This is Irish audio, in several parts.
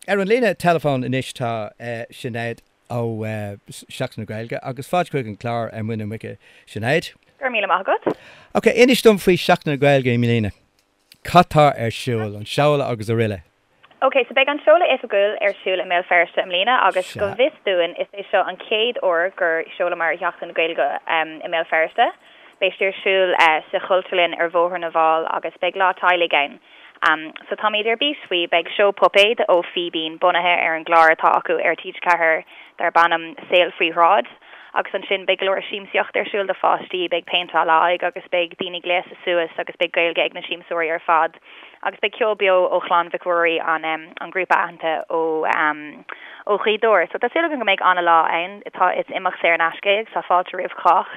Ar an líne teileafóin anois tá Sinéad ó Seachtain na Gaeilge agus fáilte chuig an clár ar Mhuine Muice Sinéad. Go raibh míle maith agat. Ok, inis dom faoi Seachtain na Gaeilge i mbliana. Cad tá ar siúl? An seoladh agus aroile. OK, so beidh an seoladh oifigiúil ar siúl i mBéal Feirste i mbliana agus go bhfios dúinn is é seo an chéad uair gur sheolamar Seachtain na Gaeilge i mBéal Feirste. Beidh sí ar siúl sa Chultúrlann ar Bhóthar na bhFál agus beidh lá teaghlaigh ann. So táimid ar bís faoi. Beidh seó puipéad ó Fíbín bunaithe ar an gclár atá acu ar TG4 darb ainm Saol Faoi Shráid. agus ansin beidh go leor siamsaíocht ar siúl do pháistí, beidh péinteáil aghaidhe agus beidh daoine gléasta suas agus beidh Gaeilge ag na siamsóirí ar fad agus beidh ceol beo ó Chlann Mhic Ruairí an em an grúpa aitheanta ó em ó Ghaoth Dobhair so tá súil againn go mbeidh an-lá ann tá is imeacht saor in aisce é agus tá fáilte roimh chách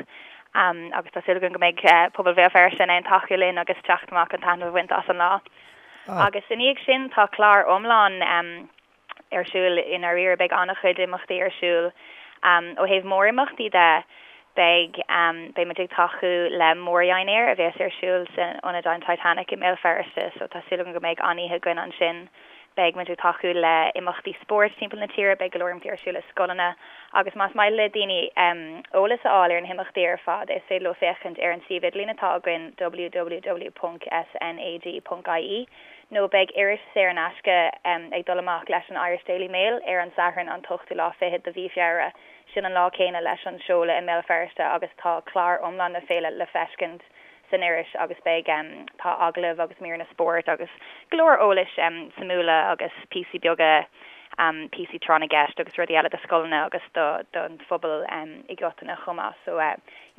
em agus tá súil againn go mbeidh eh pobal Bhéal Feirste in ann tacú linn agus teacht amach chun taitneamh a bhaint as an lá agus i ndiaidh sin tá clár iomlán em ar siúl i ndáiríre. Beidh an-chuid imeachtaí ar siúl. Ó thaobh mórimeachtaí de, beidh, beidh muid ag tacú le mórdheinéar a bhéas ar siúl san Ionad an Titanic i mBéal Feirste, so tá súil agam go mbeidh an-oíche againn ansin. Beidh muid ag tacú le imeachtaí spóirt timpeall na tíre, beidh go leor imeachtaí ar siúl i scoileanna agus más maith le daoine eolas a fháil ar na himeachtaí ar fad is féidir leo féachaint ar an suíomh idirlín atá againn www.snag.ie. nó beidh iris saor in aisce ag dul amach leis an Irish Daily Mail ar an Satharn an t-ochtú lá fichead de mhí Feabhra, sin an lá céanna leis an seoladh i mBéal Feirste agus tá clár iomlán na féile le feiscint san iris agus beidh em tá agallaimh agus míreanna spóirt agus go leor eolas em suimiúla agus píosaí beaga píosaí tráth na gceist agus rudaí eile do scoileanna agus do don phobal i gcoitinne chomh maith so.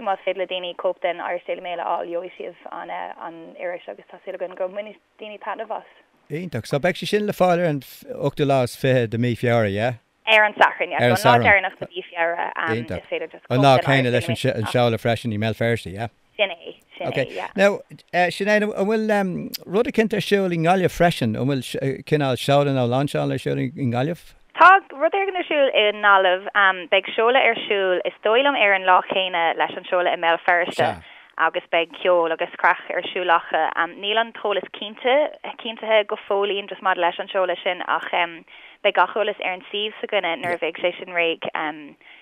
Más féidir le daoine cóip den Irish Daily Mail a fháil, gheobhaidh siad an iris agus tá súil againn go mbainfidh daoine taitneamh as. Iontach. So beidh sé sin le fáil ar an ochtú lá is fiche de mí Feabhra, yeah? Ar an Satharn, yeah. So an lá deireanach de mhí Feabhra is féidir just cóip den Irish Daily Mail a fháil. An lá céanna leis an seoladh freisin i mBéal Feirste, yeah? Sin é, sin é, yeah. Ok. Now, Sinéad, an bhfuil rud eicint ar siúl i nGaillimh freisin? An bhfuil cineál seoladh nó lainseáil ar siúl i nGaillimh? Tá rud éigin ar siúl i nGaillimh. Beidh seoladh ar siúl, is dóigh liom, ar an lá céanna leis an seoladh i mBéal Feirste agus beidh ceol agus craic ar siúl acu. Níl an t-eolas cinnte, cinntithe go fóillín just maidir leis an seoladh sin ach beidh gach eolas ar an suíomh s'againne nuair a bheidh sé sin réidh.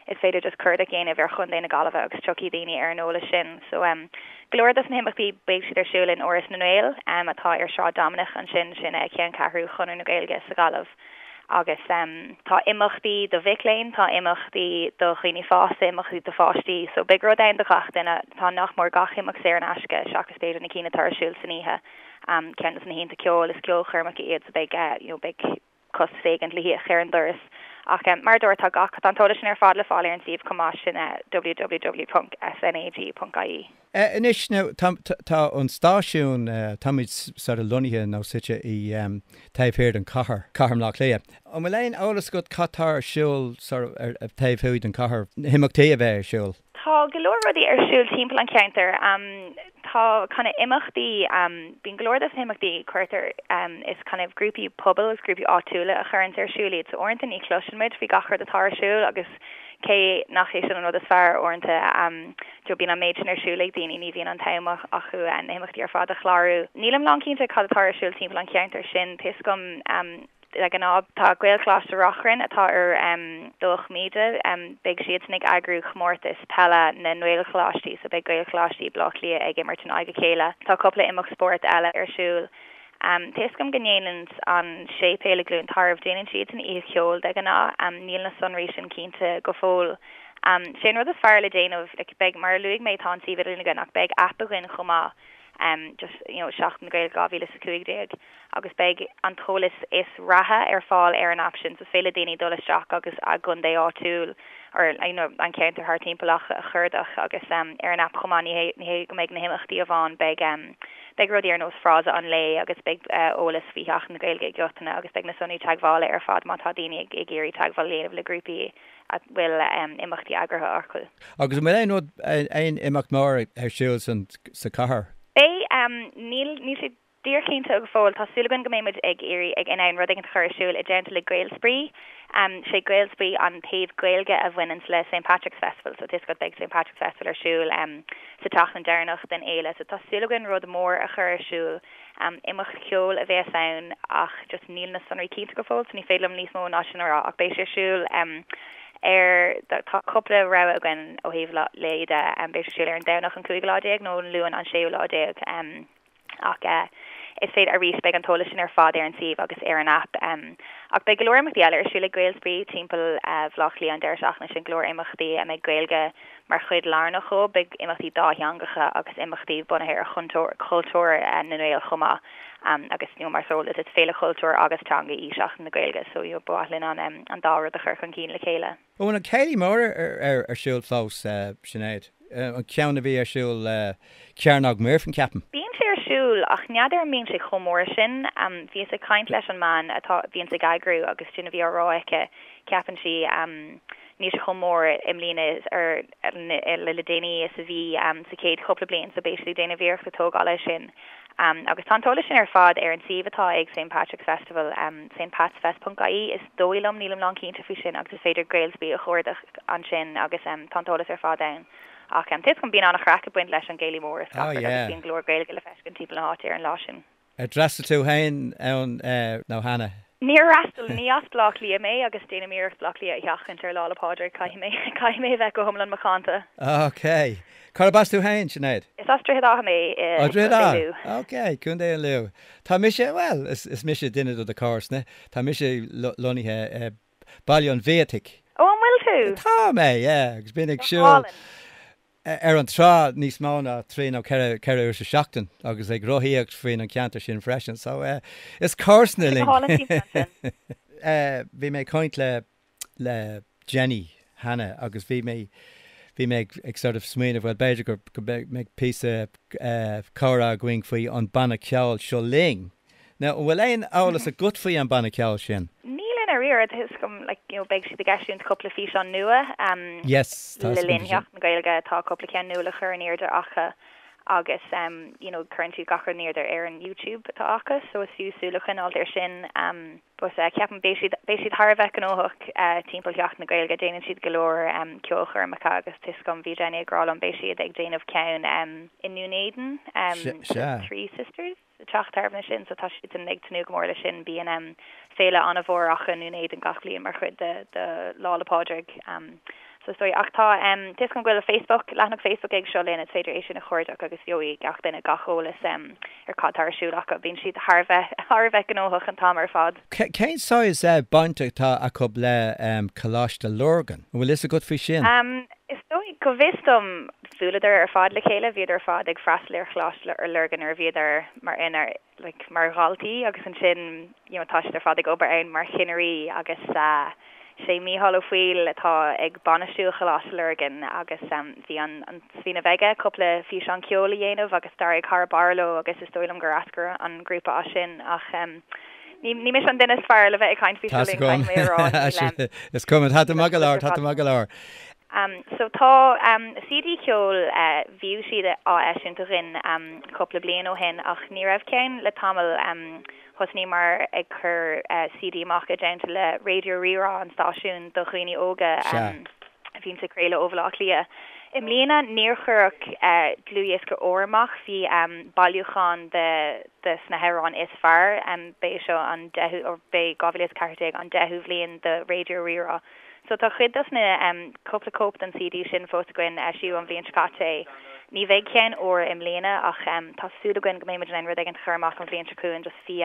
Is féidir just cuardach a dhéanamh ar Chontae na Gaillimhe agus tiocfaidh daoine ar an eolas sin. So, go leor dos na himeachtaí beidh siad ar siúl in Áras na nGael, atá ar Sráid Dominic ansin, sin ceanncheathrú Chonradh na Gaeilge sa Ghaillimh. Agus tá imeachtaí do mhic léinn, tá imeachtaí do dhaoine fásta, imeachtaí do pháistí. So beidh rud ann do gach duine. Tá nach mór gach imeacht saor in aisce, seachas b'fhéidir na cinn atá ar siúl san oíche. Ceann de na hoícheanta ceoil, is ceolchoirmeacha iad so beidh, you know, beidh costas éigin le híoc ar an doras. Ach mar a dúirt, atá gach, tá an t-eolas sin ar fad le fáil ar an suíomh chomh maith, sin www.snag.ie. Eh anois now tá tá an stáisiún eh táimid sort of lonnaithe nó suite i ehm taobh thiar den chathair, Cathair Bhaile Átha Cliath. An bhfuil aon eolas agat cad tá ar siúl sort of ar taobh thuaidh den chathair, na himeachtaí a bheidh ar siúl? Tá go leor rudaí ar siúl timpeall an cheantair. Ehm tá kind of imeachtaí ehm bíonn go leor dos na himeachtaí cuirtear ehm is kind of grúpaí pobail is grúpaí áitiúla a chuireanns ar siúl iad so uaireanta ní chloiseann muid faoi gach rud atá ar siúl agus cé nach é sin an rud is fearr uaireanta ehm You know, bíonn an méid sin ar siúl ag daoine, ní bhíonn an t-am acu na himeachtaí ar fad a chlárú. Nílim lán cinnte cad atá ar siúl timpeall an cheantair sin tá a fhios agam like de ghnáth, tá Gaelcholáiste Reachrann atá i nDomhnach Míde, beidh siadsan ag eagrú chomórtas peile na nGaelcholáistí so beidh Gaelcholáistí Baile Átha Cliath ag imirt in aghaidh a chéile. Tá cúpla imeacht spóirt eile ar siúl Tá a fhios agam go ndéanann an séipéal i gCluain Tarbh, déanann siadsan oíche cheoil de ghnáth. Níl na sonraí sin cinnte go fóill. 'Sé an rud is fearr le déanamh, like, beidh, mar a luaigh mé, tá an suíomh idirlín againn ach beidh app againn chomh maith, just, you know, Seachtain na Gaeilge 2015, agus beidh an t-eolas is reatha ar fáil ar an app sin. So is féidir le daoine dul isteach agus a gcontae áitiúil or, you know, an ceantar thart timpeall a chuardach agus ar an app chomh maith, ní hé, ní hé go mbeidh na himeachtaí amháin, beidh. Beidh rudaí ar nós frása an lae agus beidh eolas faoi Sheachtain na Gaeilge go ginearálta agus beidh na sonraí teagmhála ar fad má tá daoine ag iarraidh teagmháil a dhéanamh le grúpaí a bhfuil imeachtaí eagraithe acu. Agus an bhfuil aon rud, aon imeacht mór ar siúl sa chathair? Beidh. Níl sé dearchinnte go fóill. Tá súil againn go mbeidh muid ag iarraidh ag in ann rud éigin a chur ar siúl i dteannta le Gaelspraoi. 'Sé Gaelspraoi an taobh Gaeilge a bhaineanns le St. Patrick's Festival so toisc go mbeidh St. Patrick's Festival ar siúl. Sa tseachtain deireanach den fhéile so tá súil againn rud mór a chur ar siúl. Imeacht ceoil a bheas ann ach just níl na sonraí cinnte go fóill so ní féidir liom níos mó ná sin a rá ach beidh sé ar siúl ar, tá cúpla rogha againn ó thaobh lae de, beidh sé ar siúl ar an Domhnach an cúigiú lá déag nó an Luan an séú lá déag. Ach is féidir, arís, beidh an t-eolas sin ar fad ar an suíomh agus ar an aip. Ach beidh go leor imeachtaí eile ar siúl ag Gaelspraoi timpeall Bhaile Átha Cliath an deireadh seachtaine sin, go leor imeachtaí a mbeidh Gaeilge mar chuid lárnach dhóibh. Beidh imeachtaí dátheangacha agus imeachtaí bunaithe ar chultúr na nGael chomh maith agus you know mar is eol duit is féile chultúir agus teanga í Seachtain na Gaeilge so you know ba mhaith linn an dá rud a chur chun cinn le chéile. An bhfuil an Céilí Mór ar siúl fós, Sinéad? An ceann a bhí ar siúl i gCearnóg Mhuirfean, ceapaim. Bíonn sé ar siúl, ach n'fheadar an mbíonn sé chomh mór sin. Bhíos ag caint leis an mbean atá, bhíonn á eagrú agus sin a bhí á rá aici, ceapann sí, níl sé chomh mór i mbliana nó le déanaí, is a bhí sé an chéad chúpla bliain, so beidh siad ag déanamh iarracht tógáil air sin. Agus tá an t-eolas sin ar fad ar an suíomh atá ag St Patrick's Festival, stpatsfest.ie, is dóigh liom, nílim lán cinnte faoi sin, agus is féidir Gaelsby a chuardach ansin agus tá an t-eolas ar fad ann. Ach tuigim go mbíonn an-chraic ag baint leis an gcéilí mór, is craic é agus bíonn go leor Gaeilge le feiscint timpeall na háite ar an lá sin. Ar d'fhreastail tú féin ann cheana? Níor fhreastal ní as Bleá Cliath mé agus déanaim iarracht Bleá Cliath a sheachaint ar Lá 'le Pádraig, caithfidh mé a bheith go hiomlan macánta. OK. Cárb as tú féin, Sinéad? Is as Droichead Átha mé i Ó, Droichead Átha. OK, Contae Lú. Tá mise, bhuel, is is mise duine do do comharsana. Tá mise lonnaithe i Baile an Bhiataigh. Ó, an bhfuil tú? Tá mé, yeah, agus bím ag siúl ar an trá níos mó ná trí nó ceithre uair sa seachtain agus ag rothaíocht faoin an ceantar sin freisin. So eh is comharsana sinn. Eh bhí mé ag caint le, le Jenny cheana agus bhí mé, bhí mé ag, ag sort of smaoineamh bhuel b'fhéidir gur, go mbeidh, mbeidh píosa eh comhrá againn faoi an banna ceoil Seo Linn. Now, an bhfuil aon eolas agat faoi an banna ceoil sin? Níl i ndáiríre. Tá a fhios agam, you know, beidh siad ag eisiúint cúpla físeán nua, em, Yes, le linn Sheachtain na Gaeilge, tá cúpla ceann nua le chur in airde acu agus, em, you know, cuireann siad gach rud in airde ar an YouTube atá acu, so is fiú súil a choinneáilt ar sin, em, but, eh, ceapaim beidh siad, beidh siad thar a bheith gnóthach, eh, timpeall Sheachtain na Gaeilge. Déanann siad go leor, em, ceolchoirmeacha agus tá a fhios agam, bhí Jenny ag rá liom beidh siad ag déanamh ceann, em, i nDún Éideann, em, Sea. Three Sisters? Ag teacht tráthnóna sin so tá siad ag tnúth go mór le sin. Bíonn féile an-mhór acu i nDún Éideann gach bliain mar chuid de Lá 'le Pádraig so is dóigh. Ach tá fios agam go bhfuil Facebook, leathanach Facebook ag Seo Linn, is féidir é sin a chuardach agus gheobhaidh gach duine gach eolas ar cad tá ar siúl acu. Bíonn siad thar a bheith gnóthach an t-am ar fad. Cén saghas baint atá acu le Coláiste Lurgan? An bhfuil fhios agat faoi sin? Is dóigh, go bhfios dom, bhuaileadar ar fad le chéile, bhíodar ar fad ag freastal ar Choláiste Lurgan nuair a bhíodar mar in ar like mar dhaltaí agus ansin you know tá siad ar fad ag obair ann mar chinnirí agus eh is é Mícheál Ó Foighil atá ag bainistiú Choláiste Lurgan agus em bhí an an smaoineamh aige cúpla físeán ceoil a dhéanamh agus d'éirigh thar barr leo agus is dóigh liom gur eascair an grúpa as sin ach em Ní mise an duine is fearr le bheith ag caint faoi, caithfidh mé a rá, níl sé, ann. is cuma, tá tú i m'aghaidh láir, tá tú i m'aghaidh láir. So tá CD ceoil bhíodh siad á eisiúint againn cúpla bliain ó shin ach ní raibh ceann le tamall. Thosnaíomar ag cur CD amach i dteannta le Raidió Rí-Rá an stáisiún do dhaoine óga. Sea. Bhíonn sé ag craoladh ó Bhaile Átha Cliath. I mbliana níor cuireadh dlúthdhiosca úr amach, bhí bailiúchán des na hamhráin is fearr, ba é seo an deichiú, b'é 2014 an deichiú bhliain do Raidió Rí-Rá. So tá cuid dos na, cúpla cóip den CD sin fós againn, eisíodh an bhliain seo caite é. Ní bheidh ceann úr i mbliana ach tá súil againn go mbeidh muid in ann rud éigint a chur amach an bhliain seo chugainn, just bhí,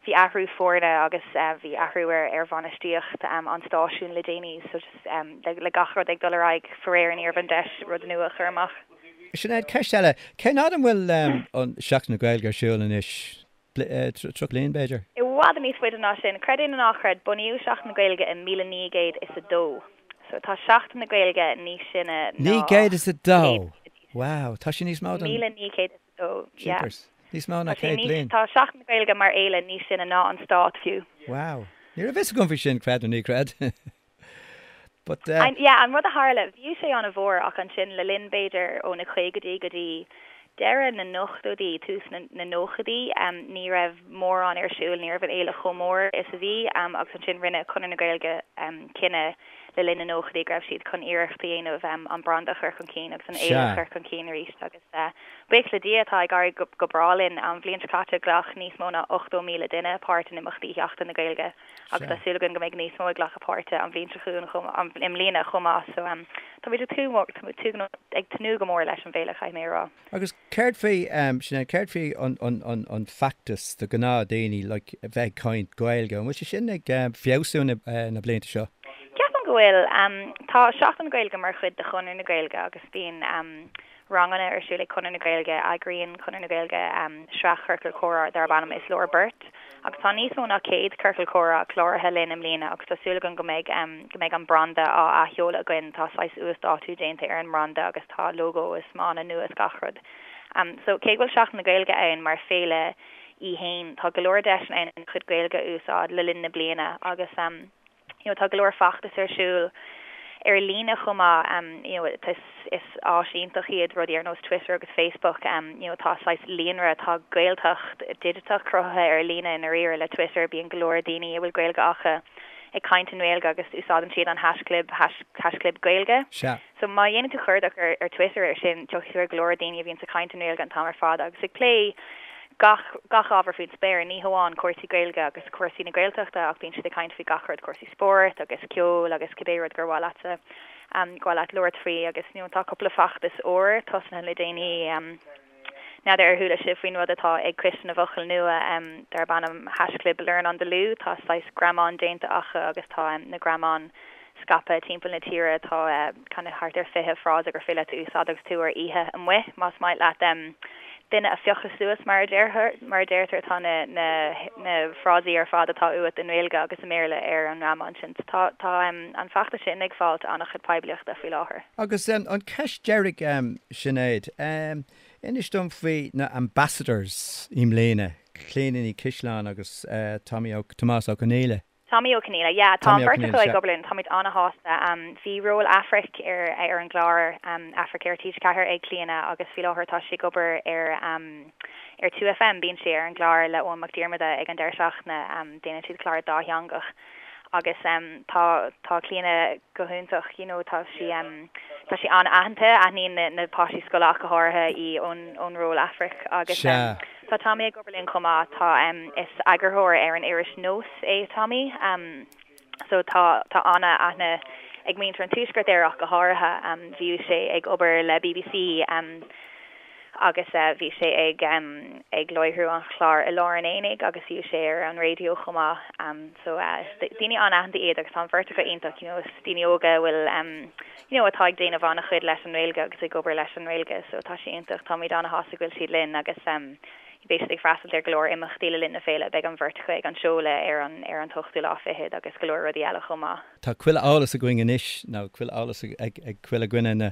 bhí athrú foirne agus bhí athrú ar bhainistíocht an stáisiúin le déanaí so just. le gach rud ag dul ar aghaidh faraor ní raibh an deis rud nua a chur amach. Sinéad, Ceist eile, cén fhad an bhfuil Seachtain na Gaeilge ar siúl anois? 30 bliain b'fhéidir? I bhfad níos faide ná sin, creid é nó ná creid, bunaíodh Seachtain na Gaeilge i míle naoi gcéad is a dó. So tá Seachtain na Gaeilge níos sine ná. Naoi gcéad is a dó? Wow, tá sé níos mó ná. Míle naoi gcéad is a dó, yeah. Níos mó ná céad bliain. Tá Seachtain na Gaeilge mar fhéile níos sine ná an Stát fiú. Wow. Ní raibh fhios agam faoi sin, creid nó ná creid. But eh. An, yeah, an rud a tharla, bhíodh sé ana mhór ach ansin le linn b'fhéidir ó na caogaidí go dtí deireadh na n-ochtóidí, tús na, na nóchaidí, em, ní raibh mórán ar siúl, ní raibh an fhéile chomh mór is a bhí, em, agus ansin rinne Conradh na Gaeilge, em, cinneadh le linn na nóchaidí go raibh siad chun iarracht a dhéanamh, em, an branda a chur chun cinn agus an fhéile a Sea. chur chun cinn arís agus eh, buíoch le Dia tá ag éirí go, go breá linn. An bhliain seo caite ghlac níos mó ná 80,000 duine páirt in imeachtaí Sheachtain na Gaeilge. agus tá súil againn go mbeidh níos mó ag glacadh páirte an bhliain seo chugainn chomh maith, i mbliana chomh maith so ehm tá muid ag tnúth ag tnúth go mór leis an bhféile chaithfidh mé a rá. Agus céard faoi ehm Sinéad céard faoi an, an, an, an feachtas do ghnáthdhaoine like a bheith ag caint Gaeilge, an bhfuil sé sin ag ehm feabhsú na, eh, na blianta seo? Ceapaim go bhfuil, ehm tá Seachtain na Gaeilge mar chuid de Chonradh na Gaeilge agus bíonn ehm, ranganna ar siúl ag Conradh na Gaeilge. Eagraíonn Conradh na Gaeilge sraith chiorcal comhrá darb ainm 'Is Leor Beirt', agus tá níos mó ná 100 ciorcal comhrá cláraithe linn i mbliana agus tá súil againn go mbeidh go mbeidh an branda á athsheoladh againn. Tá saghas uasdátú déanta ar an mbranda agus tá lógó is mana nua is gach rud. So, cé go bhfuil Seachtain na Gaeilge ann mar fhéile í fhéin, tá go leor deiseanna ann chun Gaeilge a úsáid le linn na bliana agus. You know, tá go leor feachtas ar siúl ar líne chomh maith, um, you know, it, is, is áis iontach iad rudaí ar nós Twitter agus Facebook, um, you know, tá saghas líonra, tá Gaeltacht dhigiteach cruthaithe ar líne i ndáiríre le Twitter, bíonn go leor daoine a bhfuil Gaeilge acu ag caint i nGaeilge agus úsáideann siad an haischlib, hash, haischlib Gaeilge. Sea, So má dhéanann tú cuardach ar Twitter ar sin, tiocfaidh tú ar go leor daoine a bhíonns ag caint i nGaeilge an t-am ar fad agus ag plé gach gach ábhar faoin spéir, ní hamháin cúrsaí Gaeilge agus cúrsaí na Gaeltachta ach bíonn siad ag caint faoi gach rud, cúrsaí spóirt agus ceol agus cibé rud gur mhaith leat gur mhaith leat labhairt faoi agus you know tá cúpla feachtas úr tosnaithe le déanaí, N'fheadar ar chuala sibh faoin rud atá ag Coiste na bhFocal Nua darb ainm haischlib Learn on the Loo? Tá saghas greamáin déanta acu agus tá na greamáin scaipthe timpeall na tíre. Tá you know thart ar 20 frása gur féidir leat a úsáid agus tú ar oíche amuigh más maith leat duine a phiocadh suas mar a deirtear. Tá na frásaí ar fad atá uait i nGaeilge agus i mBéarla ar an ngreamán sin. Tá an feachtas sin ag fáilt an-chuid poiblíochta faoi láthair. Agus an ceist deiridh. Sinéad, Inis dom faoi na Ambassadors i mbliana, Clíona Ní Chaisleáin agus Tomás Ó Conghaile. Tomaí Ó Conghaile, yeah. Tá an bheirt acu ag obair linn, táimid an-shásta. Bhí ról Aifric ar an gclár Aifric ar TG4 ag Clíona agus faoi láthair tá sí ag obair ar ar 2FM, bíonn sí ar an gclár le Eoghan Mac Diarmada ag an deireadh seachtaine, déanann siad clár dátheangach. agus tá tá Clíona go hiontach you know tá sí tá sí an-aitheanta aithníonn na na páistí scoile ach go háirithe í ón ón ról Aifric agus Sea. tá Tomaí ag obair linn chomh maith tá is eagarthóir ar an iris Nós é Tomaí so tá tá an-aithne ag muintir an tuaiscirt air ach go háirithe bhíodh sé ag obair le bbc agus bhí sé ag ag láithriú an chláir I Lár an Aonaigh agus bhíodh sé ar an raidió chomh maith so daoine an-aitheanta iad agus tá an bheirt acu iontach you know is daoine óga a bhfuil you know atá ag déanamh an-chuid leis an nGaeilge agus ag obair leis an nGaeilge so tá sé iontach táimid an-shásta go bhfuil siad linn agus beidh siad ag freastal ar go leor imeachtaí le linn na féile beidh an bheirt acu ag an seoladh ar an ar an t-ochtú lá fichead agus go leor rudaí eile chomh maith. Tá chuile eolas againn anois nó chuile eolas ag chuile dhuine na.